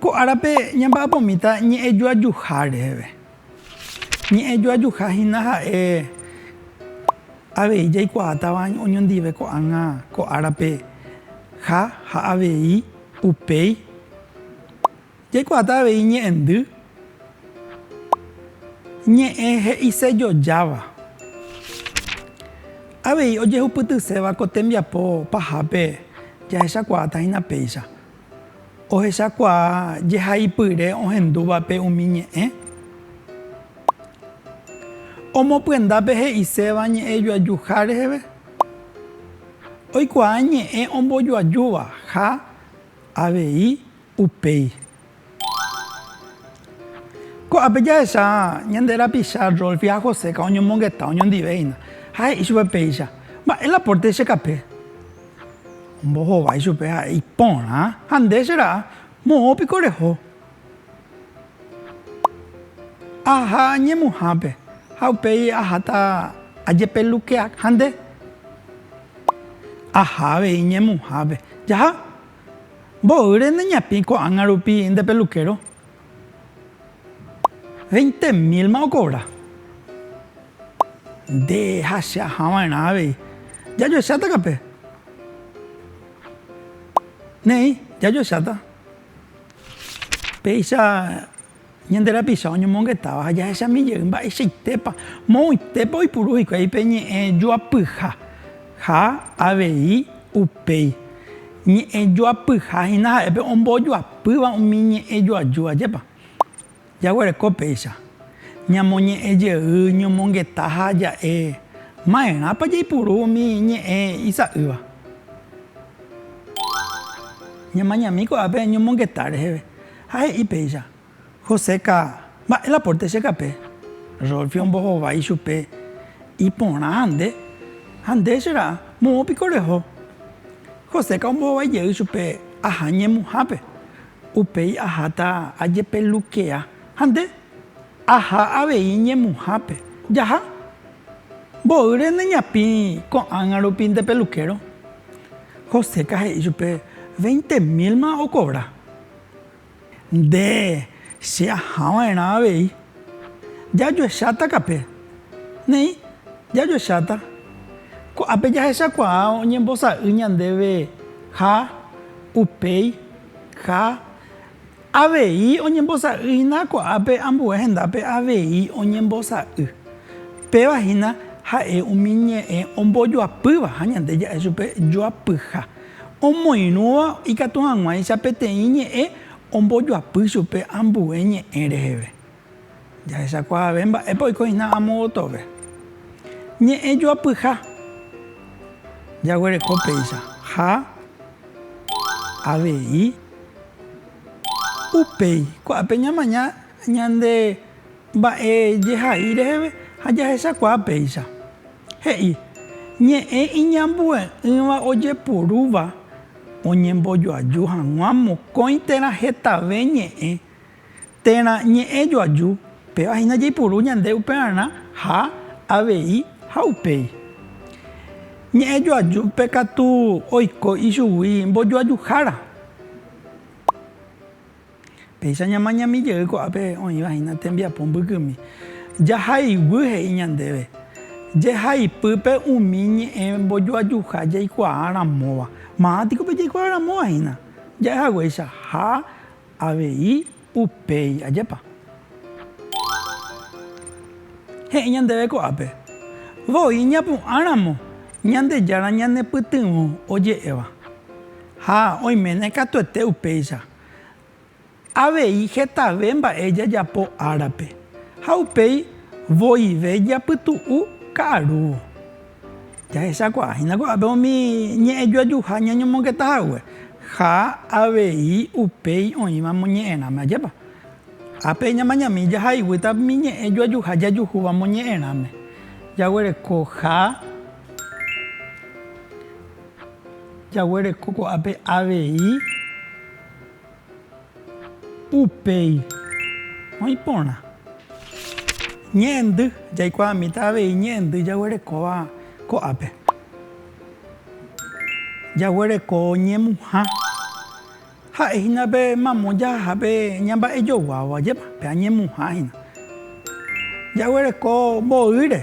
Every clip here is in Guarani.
Ko árape ñamba'apomíta ñe'ẽjoajuha reheve. Ñe'ẽjoajuha hína ha'e avei jaikuaátava oñondive ko'ág̃a ko árape ha ha avei upéi. Jaikuaáta avei ñe'ẽndy, ñe'ẽ he'isejojáva. Avei ojehupytyséva ko tembiapo pahápe jahechakuaáta hína péicha. Ohechakuaa jehaipyre ohendúvape umi ñe'ẽ. Omopyendápe he'iséva ñe'ẽ joajuha reheve. Oikuaa ñe'ẽ ombojoajúva ha avei upéi. Ko'ápe jahecha ñande rapicha Rolfi ha Joséka oñomongeta oñondive hína ha he'i chupe péicha, Mba'e la pórte che kape. Ombohovái chupe ha'e iporã, ha nde che ra'a, moõ piko reho. Aha ñemuhãpe, ha upéi aháta ajepelukeak ha nde. Aha avei ñemuhãpe. Jaha, mboýre neñapĩ ko'ág̃a rupi nde pelukéro. Veinte mílma okovra. Nde ha che aha va'erã avei. Jajoecháta kape. Ne'ĩ, jajoecháta. Péicha ñande rapicha oñomongetáva ha jahechami jey mba'eichaitépa, moõitépa oipuru hikuái pe ñe'ẽ joapyha ha avei upéi. Ñe'ẽjoapyha hína ha'e pe ombojoapýva umi ñe'ẽjoaju ajépa. Jaguereko péicha, ñamoñe'ẽ jey ñomongeta ha ja'e maerãpa jaipuru umi ñe'ẽ isa'ýva. Ñamañami ko'ápe ñomongeta reheve ha he'i péicha. Joseca, Mba'e la pórte che kape? Rolfi ombohovái ichupe, Iporã hande, ha nde che ra'a, moõ piko reho? Joseca ombohovái jey ichupe, Aha ñemuhápe, upéi aháta ajepelukea. Ha nde? Aha avei ñemuhápe. Jaha. Mboýre neñapĩ ko'ág̃a rupi nde peluquero. Joseca he'i ichupe, Veinte mil ma okobra. Nde che aha va'erã avei. Jajuecháta kape. Néi, jajuecháta. Ko'ápe jahechakuaa oñembosa'y ñandéve ha upéi ha avei oñembosa'y hína ko'ápe ambue hendápe avei oñembosa'y. Péva hína ha'e umi ñe'ẽ ombojoapýva ha ñande ja'e chupe joapyha. Omoirũva ikatu hag̃uáicha peteĩ ñe'ẽ ombojoapy chupe ambue ñe'ẽ reheve. Jahechakuaave mba'épa oiko hína amo gotove. Ñe'ẽ joapyha jaguereko péicha ha avei upéi. Ko'ápe ñamaña ñande Mba'e jehai reheve ha jahechakuaa péicha. He'i, Ñe'ẽ iñambue'ỹva ojeporúva oñembojoaju hag̃ua mokõi térã hetave ñe'ẽ, térã ñe'ẽ joaju, péva hína jaipuru ñande upearã ha avei ha upéi. Ñe'ẽ joajúpe katu oiko ichugui mbojoajuhára. Péicha ñamañami jey ko'ápe oĩva hína tembiapo mbykymi, jahayguy he'i ñandéve, jehaipýpe umi ñe'ẽ mbojoajuha jaikuaa ramóva. Maa piko pe jaikuaa ramóva hína, ja'e haguéicha ha avei upéi. Ajépa? He'i ñandéve ko'ápe, voi ñapu'ã ramo Ñandejára ñanepytyvõ oje'éva. Ha oiméne katuete upéicha. Avei hetave mba'e jajapo árape, ha upéi voive japytu'u ka'arúvo. Jahechakuaahína ko'ápe umi ñe'ẽjoajuha ñañomongeta hague, ha avei upéi oĩva moñe'ẽrãme. Ajépa? Ápe ñamañami jahayguýta umi ñe'ẽjoajuha jajuhúva moñe'ẽrãme. Jaguerekoha. Jaguereko ko'ápe avei upéi oĩ porã. Ñe'ẽndy, Jaikuaamíta avei ñe'ẽndy jaguerekóva ko'ápe. Jaguereko ñemuha. Ha'e hína pe mamo jaha pe ñamba'ejoguáva jema, pe añemuha hína. Jaguereko mboýre,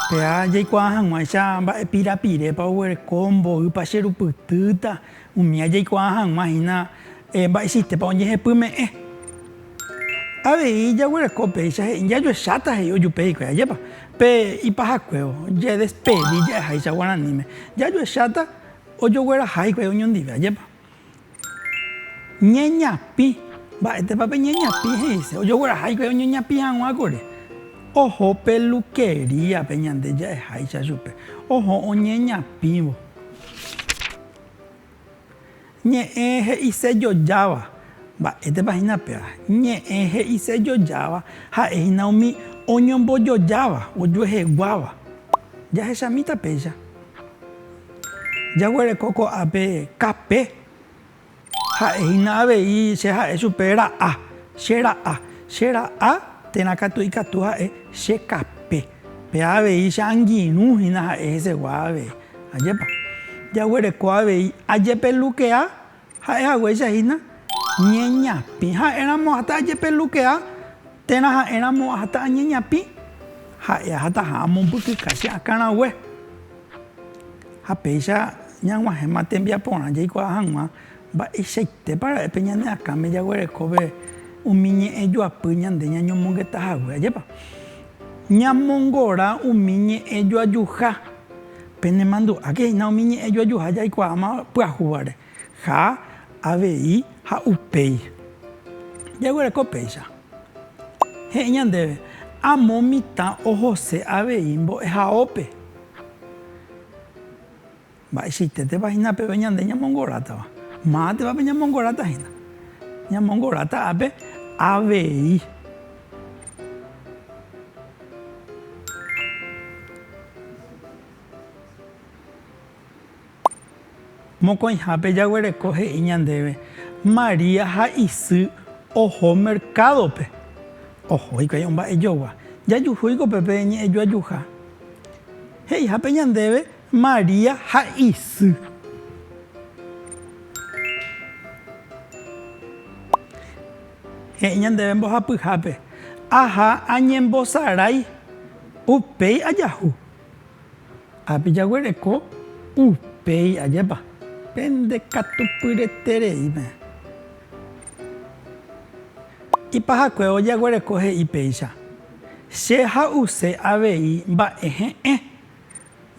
péa jaikuaa hag̃uáicha mba'e pirapirépa oguereko mboýpa che rupytýta, umía jaikuaa hag̃ua hína mba'e sistépa oñehepyme'ẽ. Avei jaguereko péicha he'i jajuecháta he'i ojupe hikuái, ajépa? Pe ipahakuévo, jedespedi ja'eháicha guaraníme, jajuecháta. Ojogueraha hikuái oñondive, ajépa. Ñeñapĩ. Mba'étepa pe ñeñapĩ he'ise? Ojogueraha hikuái oñeñapĩ hag̃ua kuri. Oho peluquería-pe ñande ja'eháicha chupe, oho oñeñapĩvo. Ñe'ẽ he'ise jojáva. Mba'étepa hína péva? Ñe'ẽ he'ise jojáva ha'e hína umi oñombojojáva, ojueheguáva. Jahechamíta péicha. Jaguereko ko'ápe kape. Ha'e hína avei che ha'e chupe ra'a, che ra'a. Che ra'a térã katu ikatu ha'e che kape. Péa avei che angirũ hína ha'e hesegua avei. Ajépa. Jaguereko avei ajepelukea Ha'e haguéicha hína ñeñapĩ. Ha'éramo ahata ajepelukea, térã ha'éramo ahata añeñapĩ, ha'e ahataha amombykykái che akã rangue. Ha péicha ñag̃uahẽma tembiaporã jaikuaa hag̃ua mba'eichaitépa ra'e pe ñane akãme jaguerekóve umi ñe'ẽ joapy ñande ñañomongeta hague. Ajépa ñamongora umi ñe'ẽ joajuha. Penemandu'áke hína umi ñe'ẽ joajuha jaikuaáma pyahúvare, ha, avei, ha upéi. Jaguereko péicha. He'i ñandéve, Amo mitã ohose avei mbo'ehaópe. Mba'eichaitétepa hína peve ñande ñamongorátava? Mávanteva peñamongorata hína. Ñamongorata ápe, avei. Mokõihápe jaguereko he'i ñandéve María ha isy oho mercado-pe. Oho hikuái omba'ejogua. Jajuhúiko pe pe ñe'ẽjoajuha. He'ihápe ñandéve María ha isy. He'i ñandéve mbohapyhápe, Aha añembosarái, upéi ajahu. Ápe jaguereko, upéi ajépa. Pende katu pyreterei peẽ. Ipahakuévo jaguereko he'i péicha, Che ha'use avei mba'e he'ẽ.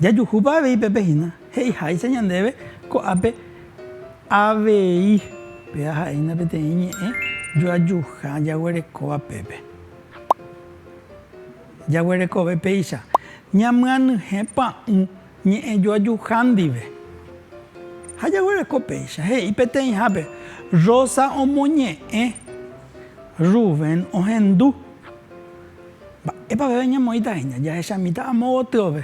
Jajuhúpa avei pépe hína, he'iháicha ñandéve ko'ápe avei. Péa ha'éina peteĩ ñe'ẽ joajuha jaguerekóva pépe. Jaguerekove péicha, ñamyanyhẽ pa'ũ ñe'ẽ joajuha ndive. Ha jaguereko péicha, he'i peteĩhápe, Rosa omoñe'ẽ, Rubén ohendu. Mba'épa aveve ñamoĩta hína jahechamíta amo gotyópe?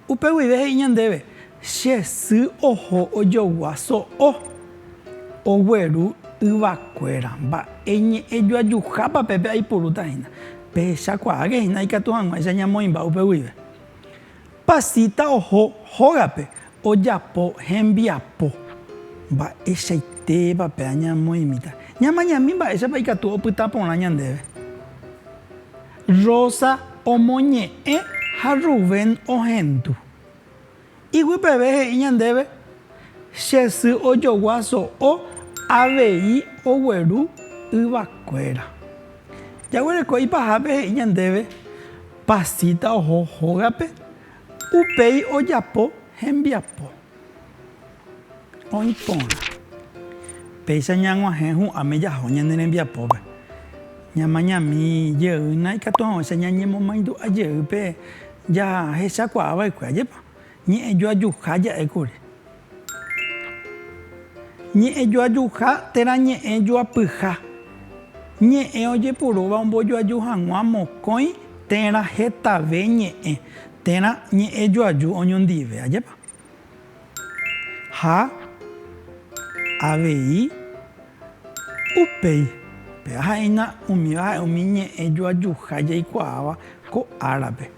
Upe guive he'i ñandéve, Che sy oho ojogua so'o, ogueru yvakuéra. Mba'e ñe'ẽ joajuhápa pépe aipurúta hína? Pehechakuaáke hína ikatu hag̃uáicha ñamoĩmba upe guive. Pasita oho hógape ojapo hembiapo mba'eichaitéva pe añamoimíta, ñamañami mba'éichapa ikatu opyta porã ñandéve. Rosa omoñe'ẽ ha Rubén ohendu. Iguipeve he'i ñandéve, Che sy ojogua so'o avei ogueru yvakuéra. Jaguereko ipahápe he'i ñandéve, Pasita oho hógape, upéi ojapo hembiapo. Oĩ porã. Péicha ñag̃uahẽ hu'ãme jaho ñane rembiapópe. Ñamañami jeýna ikatuavãicha ñañemomaindu'a jeýpe jahechakuaa va'ekue, ajépa? Ñe'ẽjoajuha ja'e kuri. Ñe'ẽjoajuha térã ñe'ẽ joapyha. Ñe'ẽ ojepurúva ombojoaju hag̃ua mokõi térã hetave ñe'ẽ térã ñe'ẽjoaju oñondive. Ajépa? Ha avei upéi. Péva ha'éina umíva ha'e umi ñe'ẽjoajuha jaikuaáva ko árape.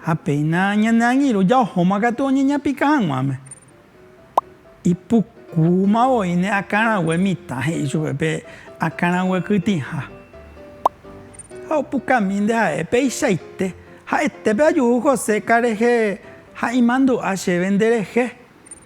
Ha péina ñane angirũ jaohóma katu oñeñapika hag̃uáme. Ipukúma voíne akãrague mitã he'i chupe pe akãrague kytĩha. Ha opukami nde ha'e peichaite, ha'ete pe ajuhu José karehe ha imandu'a chéve nderehe,